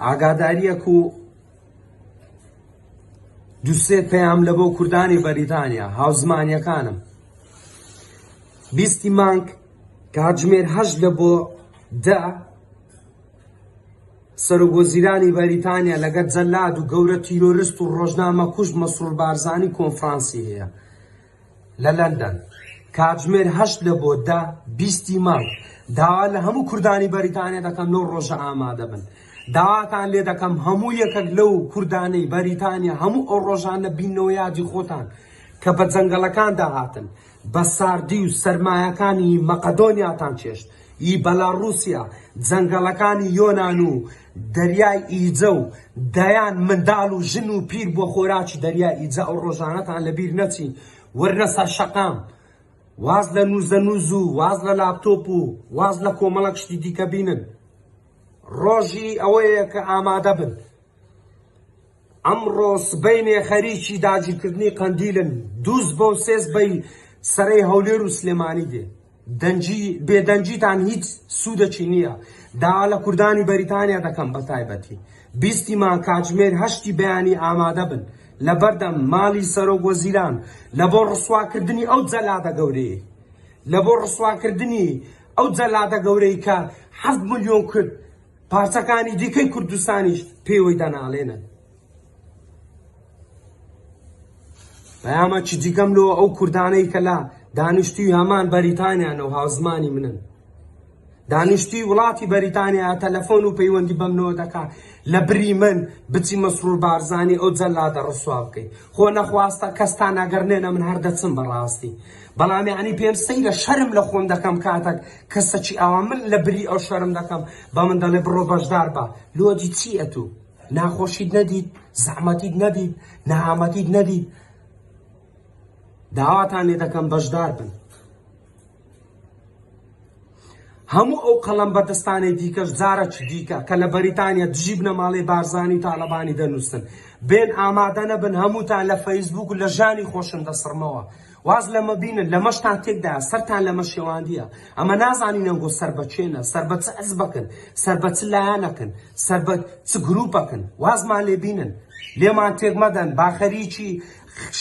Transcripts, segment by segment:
ئاگاداریەک و دوسێ پەیام لە بۆ کوردانی بەریتانیا هاوزمانیەکانم بیستی مانک کاتژمێر هەش لە بۆ دە سەرۆک وەزیرانی بەریتانیا لەگەر جەلاد و گەورە تیرۆرست و ڕۆژنامە کوژ مەسرور بارزانی کۆنفرانسی هەیە لە لەندەن، کاتژمێر هەشت لە بۆ دە بیستی مانگ، داوا لە هەموو کوردانی بەریتانیا دەکەم لەو ڕۆژە ئامادە بن. داواتان لێ دەکەم هەموو یەکەک لەو کوردانەی بەریتانیا هەموو ئەو ڕۆژانە بینەوە یادی خۆتان کە بە جەنگەڵەکاندا هاتن، بە ساردی و سەرمایەکانی مەقەدۆنیاتان چێشت، ی بەلاڕووسیا، جەنگەڵەکانی یۆنان و دەریای ئیجە و دەیان منداڵ و ژن و پیر بۆ خۆراکی دەریای ئیجە ئەو ڕۆژانەتان لەبیر نەچی وەرنە سەر شەقام واز لە نوزە نوز و واز لە لاپتۆپ و واز لە کۆمەڵک شتی دیکە بینن ڕۆژی ئەوەیە کە ئامادە بن ئەمڕۆ سبەینێ خەریکی داگیرکردنی قەندیلن، دوو سبە و سێ سبەی سەرەی هەولێر و سلێمانی دێ. بێ دەنگیتان هیچ سوودەکی نییە. داوا لە کوردانی بەریتانیا دەکەم بەتایبەتی. بیستی مانگ کاتژمێر هەشتی بەیانی ئامادە بن لە بەردەم ماڵی سەرۆک وەزیران لە بۆ ڕسواکردنی ئەو جەلادە گەورەیەی. لە بۆ ڕسواکردنی ئەو جەلادە گەورەی کە حەفت ملیۆن کورد پارچەکانی دیکەی کوردستانیش پێوەی دەناڵێنن. پەیامەکی دیکەم لۆ ئەو کوردانەی کە لە دانیشتوی هەمان بەریتانیان و هاوزمانی منن دانیشتی وڵاتی بەریتانیا تەلەفۆن و پەیوەندی بەمنەوە دەکات لە بری من بچی مەسرور بارزانانی ئەو جەلادە ڕسوا بکەیت خۆ نەخواستە کەستان ناگەرنێنە من هەر دەچم بەڕاستی بەڵام یانی پێم سەیرە شەرم لە خۆم دەکەم کاتەک کەسەکی ئاوا من لە بری ئەو شەرم دەکەم بە من دەڵێ بڕۆ بەشدار بە لۆجی چی ئەتوو ناخۆشیت نەدیت زەحمەتیت نەدیت نەهامەتیت نەدیت داواتان لێ دەکەم بەشدار بن هەموو ئەو قەڵەم بەدەستانەی دیکەش جارەکی دیکە کە لە بەریتانیا دژی بنەماڵەی بارزانی و تاڵەبانی دەنووسن بێن ئامادە نەبن هەمووتان لە فەیسبوک و لە ژانی خۆشن دەسڕمەوە واز لەمە بینن لەمەشتان تێکدا سەرتان لەمە شێواندیە ئەمە نازانینە گۆ سەر بەچێنە سەر بە چ حزبەکن سەر بە چ لایەنەکن سەر بە چ گروپەکن وازمان لێ بینن لێمان تێک مەدەن باخەریکی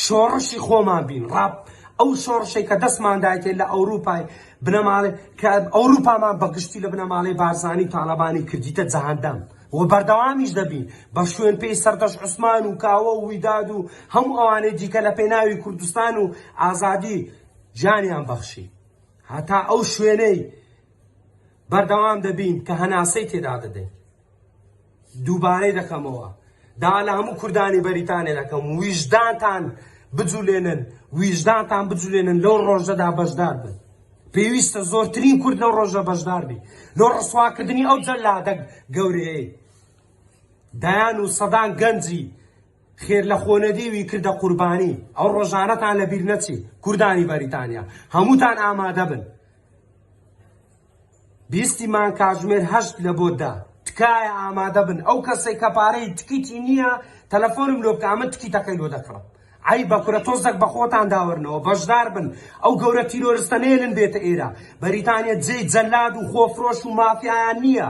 شۆڕشی خۆمان بین ڕاپ ئەو شۆڕشێک کە دەستماندایتێ لە ئەوروپای بنەماڵەی کە ئەوروپامان بەگشتی لە بنەماڵەی بارزانی تاڵەبانی کردیتە جەهەندەم و بەردەوامیش دەبین بە شوێن پێی سەردەش عوسمان و کاوە و ویداد و هەموو ئەوانەی دیکە لە پێناوی کوردستان و ئازادی جانیان بەخشی هەتا ئەو شوێنەی بەردەوام دەبین کە هەناسەی تێدا دەدەین دووبارەی دەکەمەوە دا لە هەموو کوردانی بەریتانیا دەکەم ویژدانتان بجولێنن ویژدانتان بجولێنن لەو ڕۆژەدا بەشدار بن پێویستە زۆرترین کورد لەو ڕۆژە بەشدار بی لۆ ڕسواکردنی ئەو جەلادە گەورەیەی دایان و سەدان گەنجی خێر لە خۆنەدیوی کردە قوربانی ئەو ڕۆژانەتان لە بیر نەچی کوردانی بەریتانیا هەمووتان ئامادە بن بیستیمان کاتژمێر هەشت لە بۆ دە. تکایە ئامادە بن ئەو کەسەی کە پارەی تکیتی نییە تەلەفۆنم لۆ بکە ئەمن تکیتەکەی لۆ دەکڕم. عەیبە کورە تۆزەک بەخۆتان داوەرنەوە بەژدار بن ئەو گەورە تیرۆرستە نێلن بێتە ئێرە بەریتانیە جێی جەلاد و خۆفرۆش و مافیایان نییە.